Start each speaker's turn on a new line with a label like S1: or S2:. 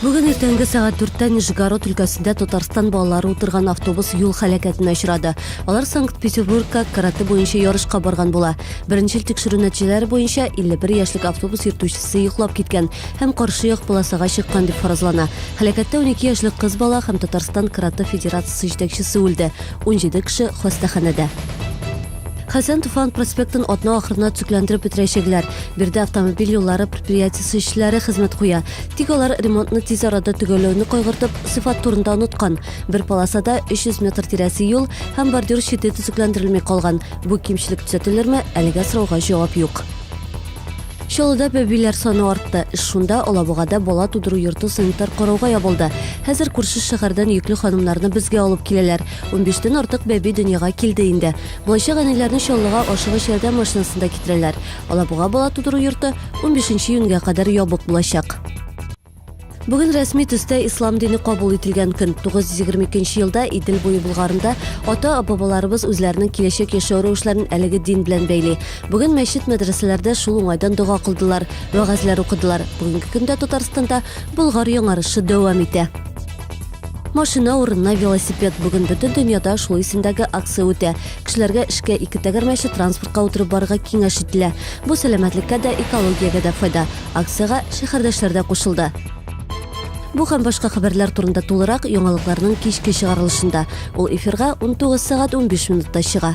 S1: Бүген иртәнге сәгать 4-тә Нижегород өлкәсендә Татарстан балалары утырган автобус юл халәкәтенә очрады. Алар Санкт-Петербургка карате буенча ярышка барган була. Беренчел тикшерү нәтиҗәләре буенча 51 яшьлек автобус йөртүчесе йоклап киткән һәм каршы як полосага чыккан дип фаразлана. Халәкәттә 12 яшьлек кыз бала һәм Татарстан карате федерациясе җитәкчесе үлде. 17 кеше хастаханәдә. Хәсән Туфан проспектын атна ахырына төзекләндереп бетерәчәкләр. Биредә автомобиль юллары предприятиесе эшчеләре хезмәт куя. Тик алар ремонтны тиз арада төгәлләүне кайгыртып, сыйфат турында оныткан. Бер полосада 300 метр тирәсе юл һәм бордюр чите төзекләндерелми калган. Бу кимчелек төзәтелерме, әлегә сорауга җавап юк. Чаллыда бәбиләр саны артты. Эш шунда, Алабугада бала тудыру йорты санитар карауга ябылды. Хәзер күрше шәһәрдән йөкле ханымнарны безгә алып киләләр. Унбиштән артык бәби дөньяга килде инде. Булачак әниләрне Чаллыга ашыгыч ярдәм машинасында китерәләр. Алабуга бала тудыру йорты унбишенче июньгә кадәр ябык булачак. Бүген рәсми төстә ислам дине кабул ителгән көн. 922 елда Идел буе Болгарында ата-бабаларыбыз үзләренең киләчәк яшәү рәвешләрен әлеге дин белән бәйли. Бүген мәчет-мәдрәсәләрдә шул уңайдан дога кылдылар, вәгазьләр укыдылар. Бүгенге көндә Татарстанда Болгар яңарышы дәвам итә. Машина урынына велосипед. Бүген бөтен дөньяда шул исемдәге акция үтә. Кешеләргә эшкә ике тәгәрмәче транспортка утырып барырга киңәш ителә. Бу сәламәтлеккә дә, экологиягә дә файда. Акциягә шәһәрдәшләр дә кушылды. Бу һәм башка хәбәрләр турында тулырак яңалыкларның кичке чыгарылышында. Ул эфирга 19 сәгать 15 минутта чыга.